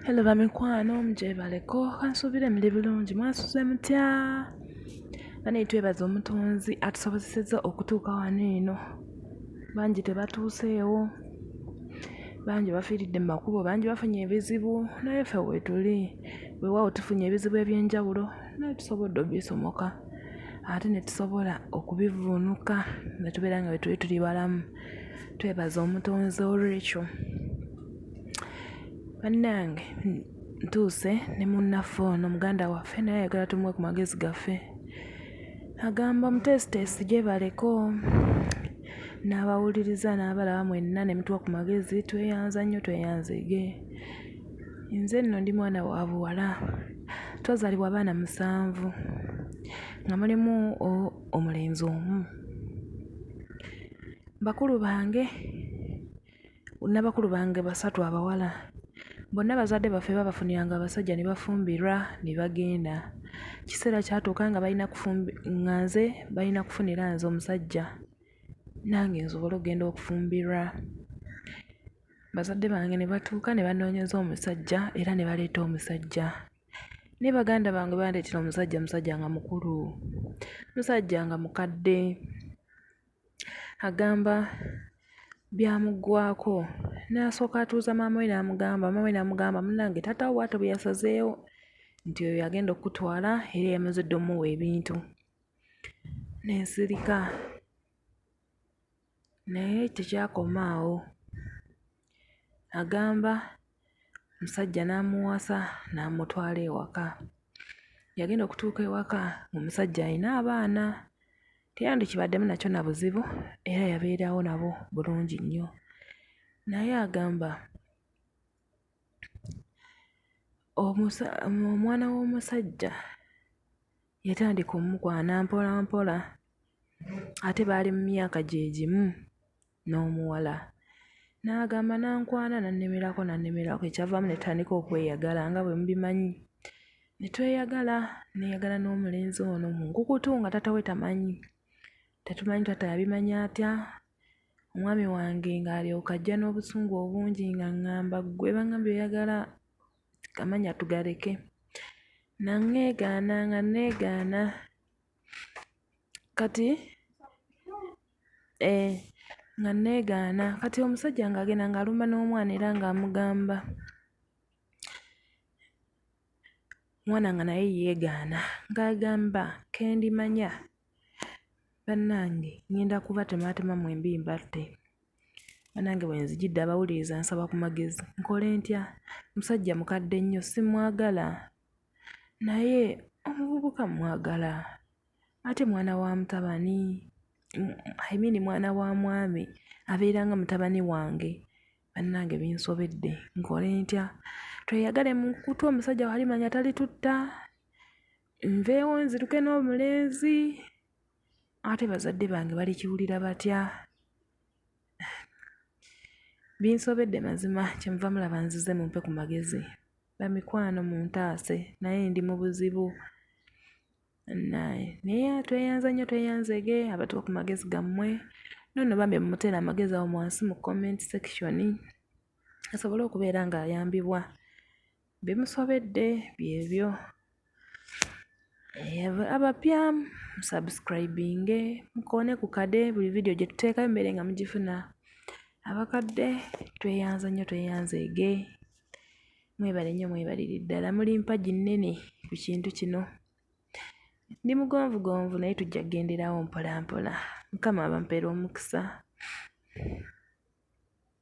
Hello bamikwano mujebaleko kansuubire muli bulungi mwasuze mutya bane twebaza omutonzi atusobozeseza okutuuka wano eno bangi tebatuuseewo bangi bafiiridde mu makubo bangi bafunye ebizibu naye ffe wetuli weewaawo tufunye ebizibu eby'enjawulo naye tusobodde obisomoka ate ne tusobola okubivvuunuka ne tubeera nga bwe tuli tuli balamu twebaza omutonzi olwekyo bannange ntuuse ne munnaffe ono muganda waffe naye ayagala tumuwe ku magezi gaffe agamba omuteesiteesi gyebaleko n'abawuliriza n'abalaba mwenna ne mutuwa ku magezi tweyanza nnyo tweyanzege nze nno ndi mwana wa buwala twazalibwa abaana musanvu nga mulimu omulenzi omu. Bakulu bange na bakulu bange basatu abawala bonna bazadde baffe babafuniranga abasajja ne bafumbirwa ne bagenda. Ekiseera kyatuuka nga balina kufumbi, nga nze balina kufunira nze omusajja nange nsobole okugenda okufumbirwa. Bazadde bange ne batuuka ne banoonyeza omusajja era ne baleeta omusajja. ne baganda bange bandeetera omusajja musajja nga mukulu musajja nga mukadde agamba byamuggwako n'asooka atuuza maama we n'amugamba maama we n'amugamba munange taata wo bwatyo bwe yasazeewo nti oyo yagenda okukutwala era yamaze dda omuwa ebintu nensirika Naye tekyakoma awo, agamba omusajja n'amuwasa n'amutwala ewaka. Yagenda okutuuka ewaka ng'omusajja alina abaana, teyandikibaddemu nakyo na buzibu era yabeerawo nabo bulungi nnyo. Naye agamba omwana w'omusajja... yatandika omukwana mpolampola ate baali mu myaka gye gimu n'omuwala n'agamba n'ankwana n'annemerako n'annemerako ekyavaamu ne tutandika okweyagala nga bwe mubimanyi ne tweyagala nneeyagala n'omulenzi ono mu nkukutu nga taata we tamanyi tetumanyi taata yabimanya atya omwami wange ng'alyoka ajja n'obusungu obungi ng'aŋŋamba ggwe bangambye oyagala amanya tugaleke nangeegaana nga neegaana kati eh, nga neegaana kati omusajja ng'agenda ng'alumba n'omwana era ng'amugamba omwana nga naye yeegaana ng'agamba kendimanya Bannange ŋŋenda kubatemaatema mwembi mbatte. Bannange bwe nzijidde abawuliriza nsaba ku magezi. Nkole ntya? Musajja mukadde nnyo simwagala naye omuvubuka mmwagala ate mwana wa mutabani I mean mwana wa mwami abeera nga mutabani wange. Bannange binsobedde nkole ntya? Tweyagale mu kkutu omusajja bw'alimanya talitutta? nveewo nziruke n'omulenzi ate bazadde bange balikiwulira batya binsobedde mazima kyemuva mulaba nzize mumpe ku magezi bamikwano muntaase naye ndi mu buzibu naye tweyanza nnyo tweyanzege abatuwa ku magezi gammwe nono bambi mumuteera amagezi awo mwansi mu comment section asobole okubeera ng'ayambibwa Bimusobedde byebyo abapya musubscribinge mukoone ku kade buli vidiyo gye tuteekayo mubeere nga mugifuna abakadde tweyanza nnyo tweyanzeege mwebale nnyo mwebalire ddala muli mpagi nnene ku kintu kino ndi mugonvugonvu naye tujja kugenderawo mpolampola mukama abampeere omukisa